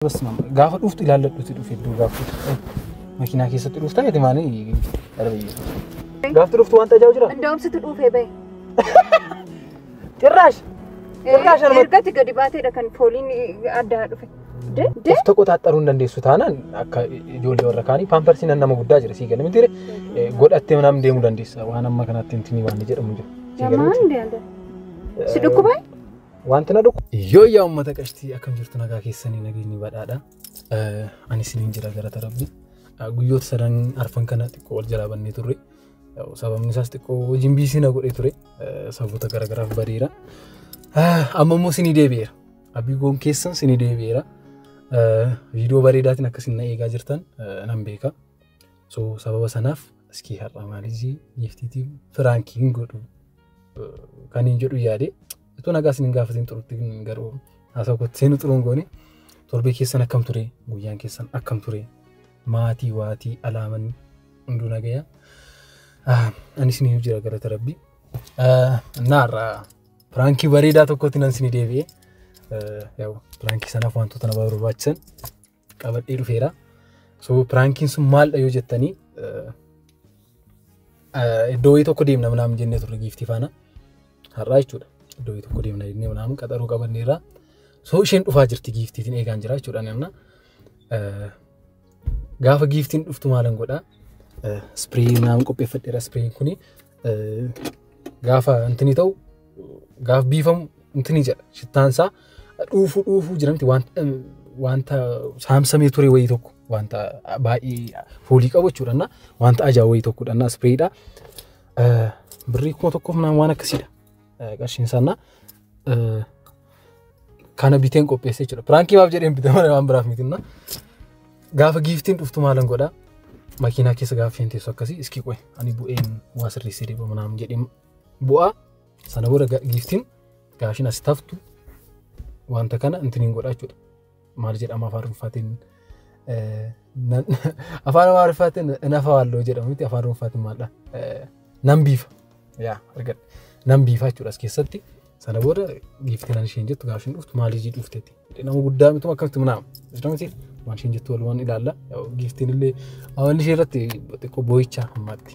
Basma gaafa dhuftu ilaalladhuuti dhufe iddoo gaafa makiinaa keessatti dhufta miti maani darbee. Gaafti dhuftu waan tajaajila jira. Indoom situ dhuufee bahe. Cirraash. Cirraash arma. Ergatti gadi baateedha kan fooliin addaa dhufe. Of tokko taaxxaruu hin dandeessu taanaan akka ijoollee warra kaanii paamparsiin nama guddaa jira sii gala miti godhattee manaan deemuu dandeessa waan amma kanatti hin tinii waan jedhamu jira. Jamaan deemte. Si dhukkubaa? Wanti na dhukkub. Yoo yaa uummata qashtii akkam jirtu nagaa keessanii nageenyi badhaadha. Ani isiniin jira gara tarabbi. Guyyoota sadan arfan kana xiqqoo wal jalaa bannee turre. Sababni isaas xiqqoo hojiin biisii na godhee ture. Sababoota garaagaraaf badeera. Amma immoo sinii deebi'eera. Abbii goon keessan sinii deebi'eera. Viidiyoo bareedaatiin akkasiin na eegaa jirtan nan beeka. so sababa sanaaf iskii har'a maalizii giiftiitiin firaankii hin godhu kan hin jedhu yaade itoo nagaa isin hin gaafatiin turutti garuu haasa'u kootti seenu turuun goone torbee keessan akkam ture guyyaan keessan akkam ture maatii waatii alaaman hunduu nagaya anis ni jira galata rabbii naarra piraankii bareedaa tokkotti nan sini deebi'e piraankii sanaaf wantoota na barbaachisan qabadhee dhufeera. So piraankiin sun maaldha yoo jettanii iddoo wayii tokko deemna manaam jennee turre giiftii faana har'aa jechuudha. Iddoo wayii tokko deemna jennee manaam qaxaruu qabanneerra. So isheen dhufaa jirti giiftiitiin eegaan jira jechuudha namna. Gaafa giiftiin dhuftu maalan godhaa? Ispiree naam qopheeffadheera ispireen kuni Eh, gaafa intini ta'u gaaf biifamu intini jedha shittaan isaa dhuufuu dhuufuu jiramti waan- eh, wanta saamsamee ture wayii tokko wanta baay'ee foolii qabu jechuudha na wanta ajaa wayii tokkodha na ispreeyidha birrii kuma tokkoof naan waan akkasiidha Eh, qarshiin isaa na eh, kana biteen qopheesse jechuudha. Piraankii maaf jedheen bite malee waan biraaf mitinna. Gaafa giiftiin dhuftu maalan godha makiinaa keessa gaafa isheen teessu akkasii iskii qo'e ani bu'een waa sirreessee deema manaan jedhee bu'aa sana booda giiftiin gaashin as taftu wanta kana intiniin godha jechuudha. maal jedhama afaan ruffaatiin afaan afaan ruffaatiin nafa waalloo jedhamu miti afaan ruffaatiin maaldha nan biifa yaa argadha nan biifa jechuudha as keessatti sana booda giiftiin ani isheen jettu gaaffiin dhuftu maal ijii dhufteeti nama guddaa mitu akkamitti munaama islamati waan isheen jettu walumaan ilaalla giiftiin illee amalli ishee irratti xiqqoo boo'icha hammaatti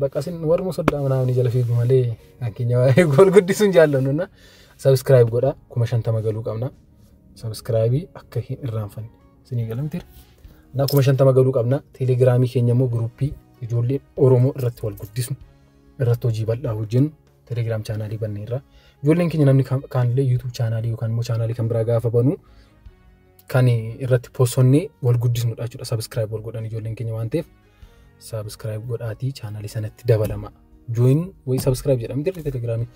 Bakka isin warruma soddaa manaa ni jala fiigu malee kan keenya waa eegu wal guddisuun jaallannu na subscribe godha kuma shantama galuu qabna subscribe akka hin irraanfanne isinii galamtira na kuma shantama galuu qabna telegiraamii keenya immoo guruppii ijoollee oromoo irratti wal guddisu irratti hojii bal'aa hojjennu telegiraam chaanaalii banne irraa ijoolleen keenya namni kaanillee yuutuub chaanaalii yookaan immoo chaanaalii kan biraa gaafa banuu kan irratti posonnee wal guddisnudha jechuudha subscribe wal godhan ijoolleen keenya waan ta'eef Subscribe godhaatii chaanalii sanatti dabalama. Join way subscribe jedhama dirri telegiraamii.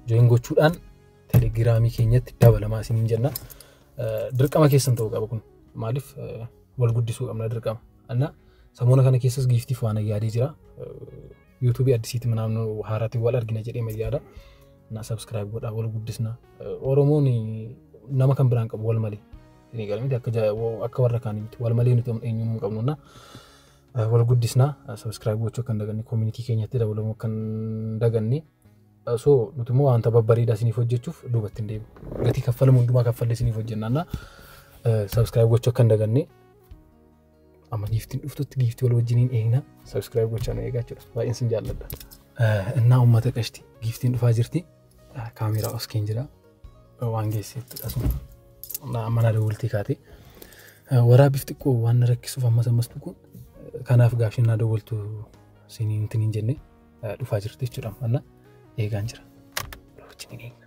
Join gochuudhaan telegiraamii keenyatti dabalamaa isiniin jenna. Dirqama keessan ta'uu qaba kun. Maaliif wal guddisuu qabna dirqama. Anna samoona kana keessas giiftiif waan yaadee jira. Yuutuubii addisiitti manaan haaraatti wal argina jedhee mayyaada. Na subscribe godhaa wal guddisna. Oromoon nama kan biraan qabu wal malee. ni gala miti akka akka warra kaanii miti wal malee nuti eenyuun hin qabnu na wal guddisna subscribe gochuu akka hin daganne community keenyatti dabalamuu akka hin daganne so nuti immoo wanta babbareedaa isiniif hojjechuuf duubatti hin deemu gatii kaffalamu hundumaa kaffallee isiniif hojjennaan na subscribe gochuu akka hin daganne Amma giiftiin dhuftutti giiftii wal wajjiniin eegna. Sabiskiraayib gochaa nu eegaa jechuudha. Baay'een sin jaalladha. Innaa uummata qashti giiftiin dhufaa jirti. Kaameeraa oskeen jira. Waan geesseetti asuma. Amma na dawwaltii kaatee. Waraabbiif xiqqoo waan na rakkisuuf ammas ammas dhuguun kanaaf gaafii na dawwaltu siniin intiniin jennee dhufaa jirti jechuudha. Amma eegaan jira. Wajjiniin eegna.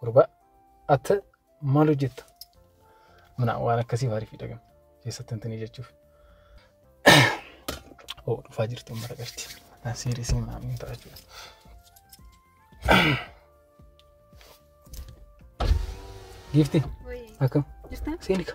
Gurbaa atta maal hojjetta? Mana waan akkasii maaliif hidhagama? Keessatti wanti ni jechuuf. Oo dhufaa jirti uummata qabdi. Ataan seerii siin maamiin ta'a jechuudha. Giifti akkam? Jirtaa? Seenika.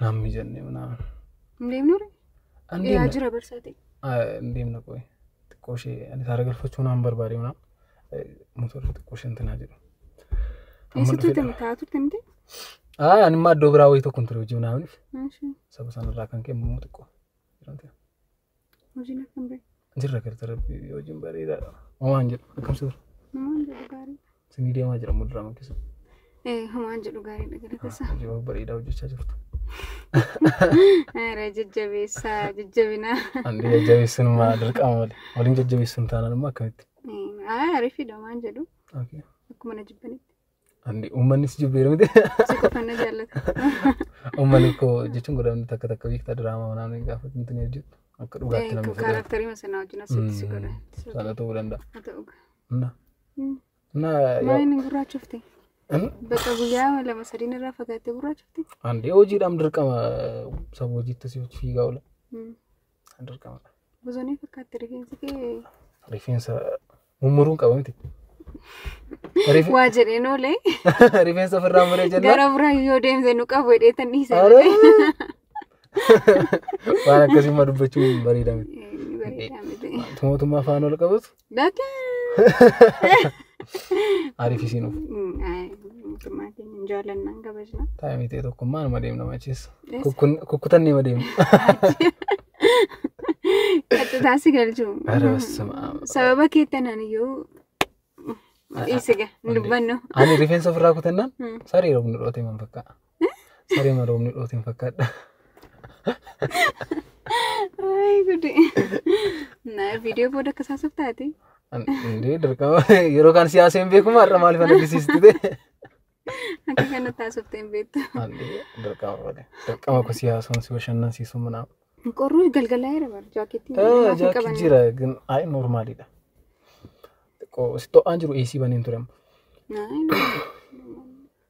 Naam mijanne naam. Hin deemnu ree? An Dhiyaa deemna. jira barsaa ta'e. Ah, Hin deemna qoy. Xiqqoo ishee ani saara galfachuu naan barbaade naam. Motorri xiqqoo ishee intinaa jedhu. Amma Eessatti dhufee deema. taa'aa turte miti? Ah, ani immoo iddoo biraa wayii tokko hin ture hojii naamniif. Maalshee? Saba sanarraa kan ka'e immoo xiqqoo. jedhamte. Hojiin akkam ba'e? Jirra galta rabbi hojiin bareedaadha. Homaan jedhu akkam sirra. Homaan jedhu gaarii. Sinii deemaa jira muduraa makkisa. Homaan jedhu gaariidha galata isaa. Hojii bareedaa hojjechaa jirtu. Aaraa jajjabeessaa jajjabinaa. Andi jajjabeessuun maa dirqama malee. Waliin jajjabeessuun taanaan immoo akkamitti? Aaraa ariifiidha homaan jedhu. Akkuma na jibbanitti. Andi uummanni si jibbeera miti. Si qofa na jaallata. Uummanni koo jechuun godhamni takka takka beektaa diraamaa manaan hin gaafatu miti ni hojjetu. Akka dhugaatti namni fudhatu. Kaaraaktarii masanaa wajjin asitti si godha. Sana ta'uu danda'a. Haa ta'u. Na. Mm. Na. Maaliin hin gurraachofte? An- Bakka guyyaa lama sadiin irraa fagaattee gurraachofte? Andi hojiidhaan dirqama saba hojiitti si fiigaa oola. Mm. Dirqama. Bosonii fakkaatti rifeensi kee Rifeensa mummuruun qaba miti. Rife- waa jedheen oolee Rifeensa ofirraa muree jennaan. gara biraa yoo deemte nu qabu jedheetan dhiise. Aare! Waan akkasii ma dubbachuun bareeda miti. Bareedaa miti. Wanti mootummaa afaan ol qabatu Dada. Ariif isiin of. Mootummaa keenya hin jaallannaan kabajna. Taa'imii ta'e tokkummaa nama deemna macheessa. Kukkutan nama deemna. Qaxxitaa si galchu. Ara bassama. Sababa keettan aniyyuu dhiisiga hin dubbannu. Ani rifeensa ofirraa kutannaan saree roobni dhoote man fakkaata. Saree maroomni dhootiin fakkaadha. Ay gudi. Na video booda akka saasaf taate. Indee dirqama yeroo kaan siyaasa hin beeku har'a maaliif ana disiistu ta'e. Akka kana taasifte hin beektu. Dirqama malee. Dirqama ko siyaasuun si bashannansiisu manaaf. Qorruu galgalaa jira bara jaakeettiin. Jaakki jira gin ayi noormaaliidha. Xiqqoo si to'aan jiru eesii baniin ture. Naayii.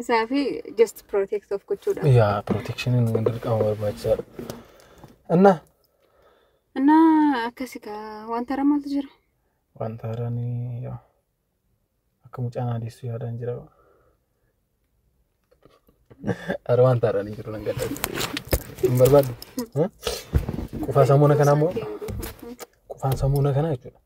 Isaa fi just protect of gochuudha. yaa protekshiniin dirqama barbaachisaadha inna Innaa akkasi kaa wanta haaraa maaltu jira? wanta haaraan yaa akka mucaan adeessu yaadaan jira ara wanta haaraan hin jiru nan gadda hin barbaaddu Eh? qufaa samuuna kanaa immoo qufaan samuuna kanaa jechuudha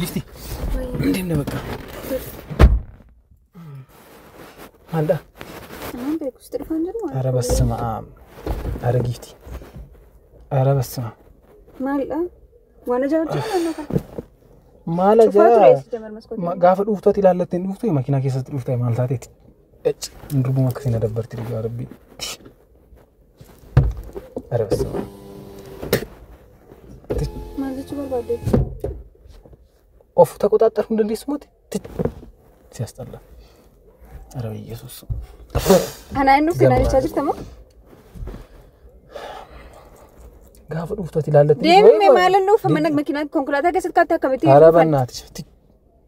Gifti. Deem na bakka. Maalda? Anaan beeku sitti dhufaan jiru. Ara bassama aam. Ara gifti. Ara bassama. Maalidha? Waan ajaa'ibaa jiru naannoo kana. Maal Cufaa ture ajaa? eessa jamar maskootii? Ma- Gaafa dhuuftooti ilaallattee hin dhuuftu makiinaa keessatti dhuuftaa maal taateeti? Ecc, Durbuma akkasiin na dabbarti dhugaa rabbii. Maal jechuu barbaadde? Of taqoxaaxxar hin dandeessu moti. Si asxalla. Ara Yesuus. Anaa inni uffina jechaa jirta moo? Gaafa dhuuftu ati ilaallatti. Deemee maal inni uffa mana makiinaa konkolaataa keessatti kaatti akkamitti Ara bannaati.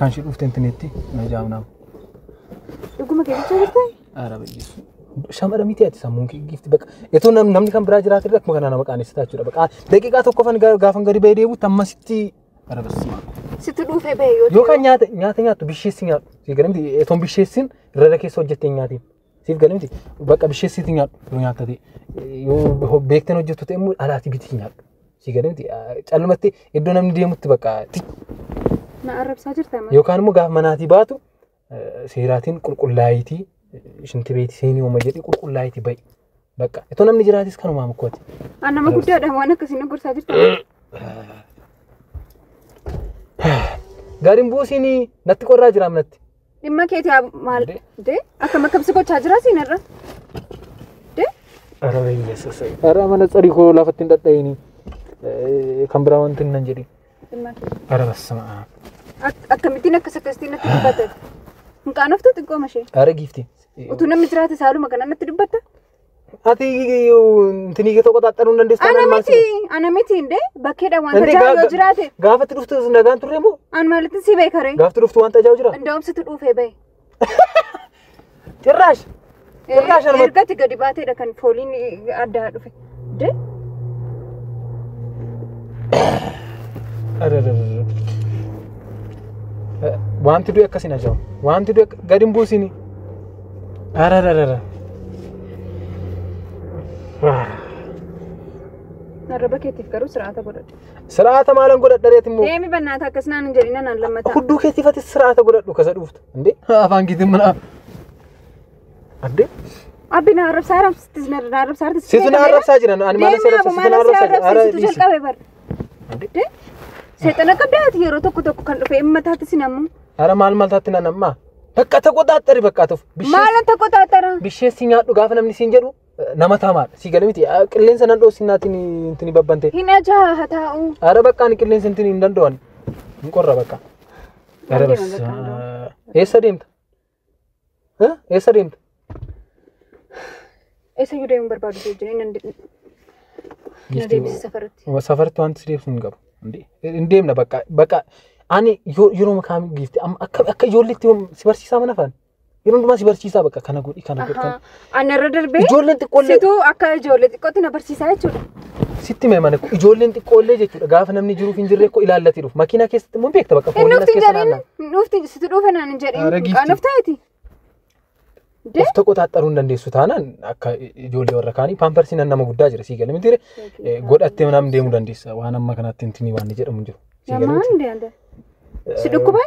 Kan ishee dhufte intineetti na jaamnaam. Dhuguma keessatti jirte? Aara bayyeessu. Shamara miti ati sammuun kee giifti bakka. Itoo nam- namni kan biraa jiraate irratti kana nama qaanessitaa jechuudha. Bakka daqiiqaa tokkoffan ga- gaafan gadi ba'ee deebi'utti ammasitti bara barsiisaa. Situ dhuufee ba'e yoo Yookaan nyaata nyaata nyaattu bisheessi nyaadhu. Sigaramti etoon bisheessin irra keessa hojjettee nyaatiin. Siif galee miti. Bakka bishee siiti nyaadhu yoo nyaatta ta'e. Yoo beekteen hojjettu ta'e immoo alaatii biti nyaadhu. Siif galee miti. Callumatti iddoo namni deemutti bakka Na arrabsaa jirta amma. yookaan immoo gaafa manaatii baatu eh, seeraatiin qulqullaayitii shinti beetii seenii uuma jedhee qulqullaayitii ba'i. Bakka itoo namni jiraatis kanumaa mukkooti. An nama guddaadha waan akkasii na gorsaa jirta. Gariin buusiin natti qorraa jiraam natti. Dhimma keeti haa maal Dee. dee akkam akkam si gochaa jira siin irra. Dee Ara biyya sasai. Ara mana tsarii koo lafatti hin dhadha'ini. Kan biraa wanti hin nan jedhi. dhimma keeti. Ara bassama. Ak- Akkamittiin akkas akkasitti natti dubbate. Hin qaanoftu xiqqoo mashee. Ara giifti. Utuu namni jiraate saaluma kana natti dubbatta. Ati intinii kee tokko xaxxanuu hin dandeessu Ana taanaan maal miti, si- ana miti indee bakkeedha wanta Dandee jaa'u gaa- yoo jiraate Gaafatti dhuftu nagaan turre moo? an maalittin si beekaree. Gaafatti dhuftu wanta jaa'u jira? Indaa'um situ dhuufee bahe. Cirraash! Cirraash anuma- Ergatti gadi baateedha kan fooliin addaa dhufe. Wanti du'e akkas hin ajaa'u. Wanti du'e gadi hin buusini. Arararara. Arraba keetiif garuu sir'aata godhadhu. Sir'aata maalan godhadha reeti immoo. Deemi bannaata akkas naan hin jedhina naan lammataa. Hudduu keetiif ati sir'aata godhadhu kasa dhuuftu. Indee afaan keetiin mana. Adde. Abbi na arrabsaa arrabsitti na arrabsaa arrabsitti. Situ na arrabsaa jira ani maal si arrabsa situ na arrabsa jira. Ara dhiisi. jalqabe bar. Adde. Seexana qabdaati yeroo tokko tokko kan dhufe amma taati sin ammoo. Ara maal maal taatti nan ammaa. Bakka ta qoxaaxxari bakka tuuf. Maala ta qoxaaxxara. Bishee si nyaadhu gaafa namni siin jedhu nama taamaadha. Si gale miti qilleensa nan dhoosi naatiin intini babbante. Hin ajaa haa taa'u. Ara bakka ani qilleensa intini hin danda'ani. Hin qorra bakka. Eessa deemta? Eessa deemta? Eessa iyyuu deemuun barbaadu si wajjin nan na deebisi safaratti. Safarti wanti si deebsu hin qabu. Hin deemna bakka bakka ani yeroo kaam giifti akka ijoolleetti si barsiisaa mana faana. Yeroo hundumaa si barsiisaa bakka kana godhi kana godhi. Anna irra darbee Ijoolleen xiqqoollee situu akka ijoollee xiqqootti na barsiisaa jechuudha. sitti mee mana ijoolleen xiqqoollee jechuudha gaafa namni jiruuf hin jirre koo ilaallati dhufu makiinaa keessatti immoo beekta bakka Hin fooliin as dhufti keessa jedhin naannaa. hin dhufti situ dhuufe naan hin jedhin Aara giifti. qaanuf taati. Of tokko taaxxaruu hin dandeessu taanaan akka ijoollee warra kaanii paamparsiin an nama guddaa jira sii galee miti Eh, godhattee naam deemuu dandeessa waan amma kanatti hintinii waan jedhamu hin jiru. Sii galee Namaa miti? hin deemte. Si dhukkubaa?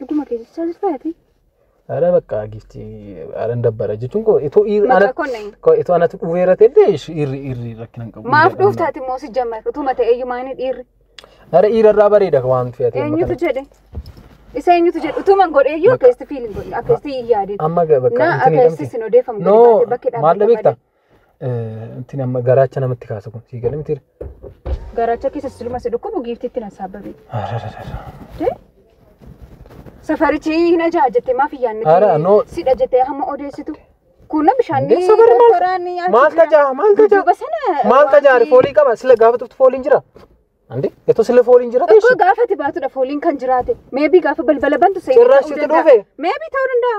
Dhuguma keessa satisfaati. Ara bakka gifti aran dabbara jechuun koo itoo ir Maqaa ana konneen. koo itoo anatu dhuweera ta'e irri irri rakkina hin qabu. Maaf dhuuftaati immoo si jammar utuma ta'e iyyuu maanii dhiirri. Ara irra irraa bareeda waan fe'ate. Eenyutu jedhe? Isa eenyutu jedhe? Utuman godhe iyyuu akkasitti fiilin godhe akkasitti hin yaadin. Amma ga- bakka Na intini akkasitti dhabde. sin odeeffamu gadi No, baatee bakki maal dhaabbatta beekta? malee. Intin amma garaacha namatti kaasa kun sii galee mitiire. Garaacha keessa siluma si dhukkubu giiftitti na saabbabe. Safarichi hin ajaa'a jettee maaf hin yaadne? Ara, no. Sidha jettee hamma odeessitu. Kun bishaan Dee safari maal- toraan maal tajaa maal tajaa Duuba sana maal tajaa wanti- foolii qaba sila gaafa tuftu fooliin jira. Ande eto sila fooliin jira Tokko teessu. gaafa ati baatudha fooliin kan jiraate. Meebii gaafa balbala bantu seenee Cirraas ta'uu sitti danda'a. dhufe? Meebii ta'uu danda'a.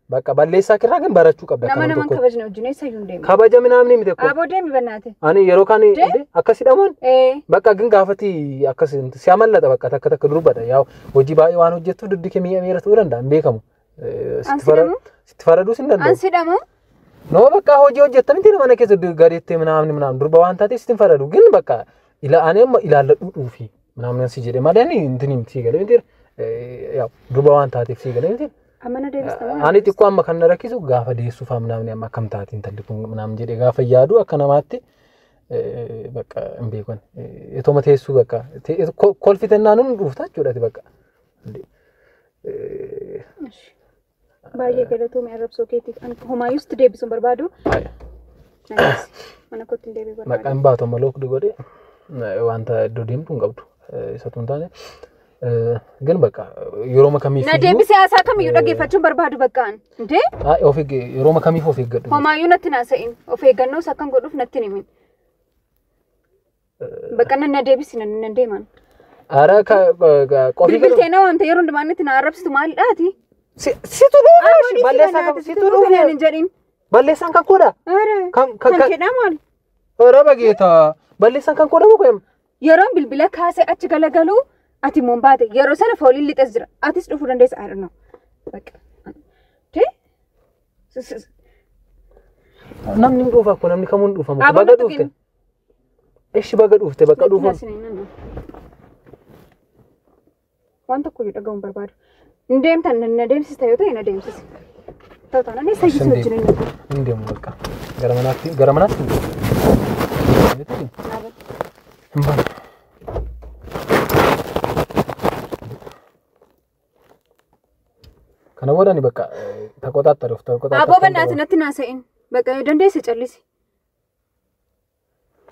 Bakka balleessaa kirraa kan barachuu qabda Nama akkanuma naman tokko. kabajne wajjin eessa iyyuu hin deemne. Kabaja minaamni miti kun. Aboo deemi bannaate. Ani yeroo kaan Dee? dee, akkas hidhamuun Ee. bakka gin gaafati akkas si amallata bakka takka takka durbadha yaa hojii baay'ee waan hojjettu dugdi kee mi'a miira ta'uu danda'a hin beekamu. Eh, An sitti fara- sidhamu? Sitti faraduus hin An danda'u. sidhamu. Nama bakka hojii hojjettan itti mana keessa du- gadeettee minaamni minaamni durba waan taateef sitti hin faradu gin bakka ila ani amma ilaalladhu dhuufi. ምናምን si jedhe malee ani intin himti si galee miti yaw duba waan taateef si galee miti Amana deebistama. ani xiqqoo amma kan na rakkisu gaafa deessuuf amnaamni amma akkam taate intalli kun naam jedhe gaafa yaadu akka namaatti eh, bakka hin beekan Eh, itoma teessuu bakka te- ko- kolfitennaan hin dhuufta jechuudha ati bakka Eh, Baay'ee galatoomi arrabsoo keetiif. Ani homaayyuu sitti deebisuun barbaadu. Anis mana kootti hin deebi'u barbaadu. Maqaan baatu amma lookdi godhe wanta iddoo deemtu hin qabdu. Isatu hin taane. Gan bakka yeroo kamiif. Na deebisee haasaa kamiyyuu dhaggeeffachuun barbaadu baqqaan. Indee? Of eeggee yeroo kamiif of eeggadhu. Homaayyuu natti naasa'in. Of eeggannoos akkan godhuuf natti himin. Bakka nan na deebisi nan nan deeman. Ara ka qofi Bilbiltee na waamte yeroo hundumaa inni na arrabsitu maalidhaati? si situ dhufa shi balleessaa kan situ Situ dhufa hin jedhin. balleessaan kan koodha Ara Kan- kan- kan kan- jedhaa maali? ora bageeta balleessaan kan koodha muka yam Yeroon bilbila kaasee achi galagalu ati immoo hin baate yeroo sana fooliin lixas jira atis dhufuu dandeessa I don't know. Bakka. Tee? S- s- namni hin dhufa ko namni kamuu hin dhufa muka Aboo baga na tuqin. dhufte Eshi baga dhufte bakka dhufu. Waan tokko iyyuu dhaga'uun barbaadu. Hin deemtan na deemsista yoo ta'e na deemsisi. Ta'u taanaan eessa iyyuu si wajjin hin dhaqu. Hin deemu bakka. Gara manaatti gara manaatti hin deemu. Hin baane. Kana booda ni bakka taqotaatti arif taqotaatti. Aboo bannaati natti naasa'in. Bakka dandeesse callisi.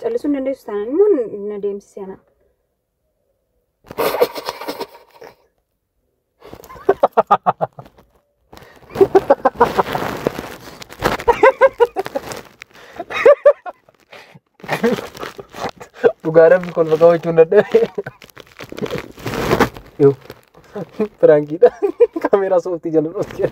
Callisuu hin dandeessu taanaan immoo na deemsisee anaa. Dhugaa rabbi kolfa qabachuu hin dadhabe. Yoo. Piraankiidha. Kaameeraa sooftii jala dhootti.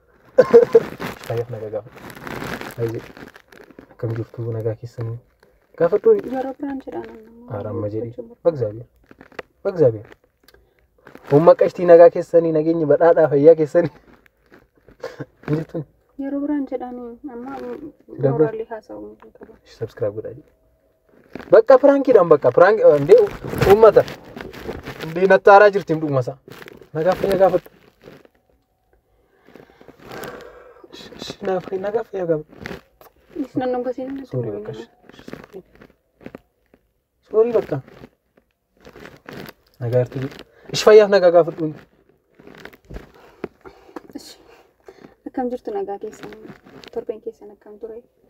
Fayyaaf nagaa gaafadhu. Baay'ee akkam jirtu nagaa keessanii gaafadhu. Yeroo biraan jedhaan amma. Aramma jedhi. Bagzaabiya. Bagzaabiya. Humna qashtii nagaa keessanii nageenyi badhaadhaa fayyaa keessanii. Hin jirtun. Yeroo biraan jedhaan amma Dabra. mooraalii haasa'uu hin qabu. Subscribe godhaa jedhi. Bakka piraankiidhaan bakka piraanki hundee uummata. Hundee nattaaraa jirti dhuguma isaa. Nagaa fayyaa gaafadhu. Naaf kenna gaafa yaa gaba. Isnan nu gatiin na Soorii bakka. Soorii bakka. Nagaa irratti jiru. Ishi fayyaaf nagaa gaafadhuun. Akkam jirtu nagaa keessan torbeen keessan akkam ture?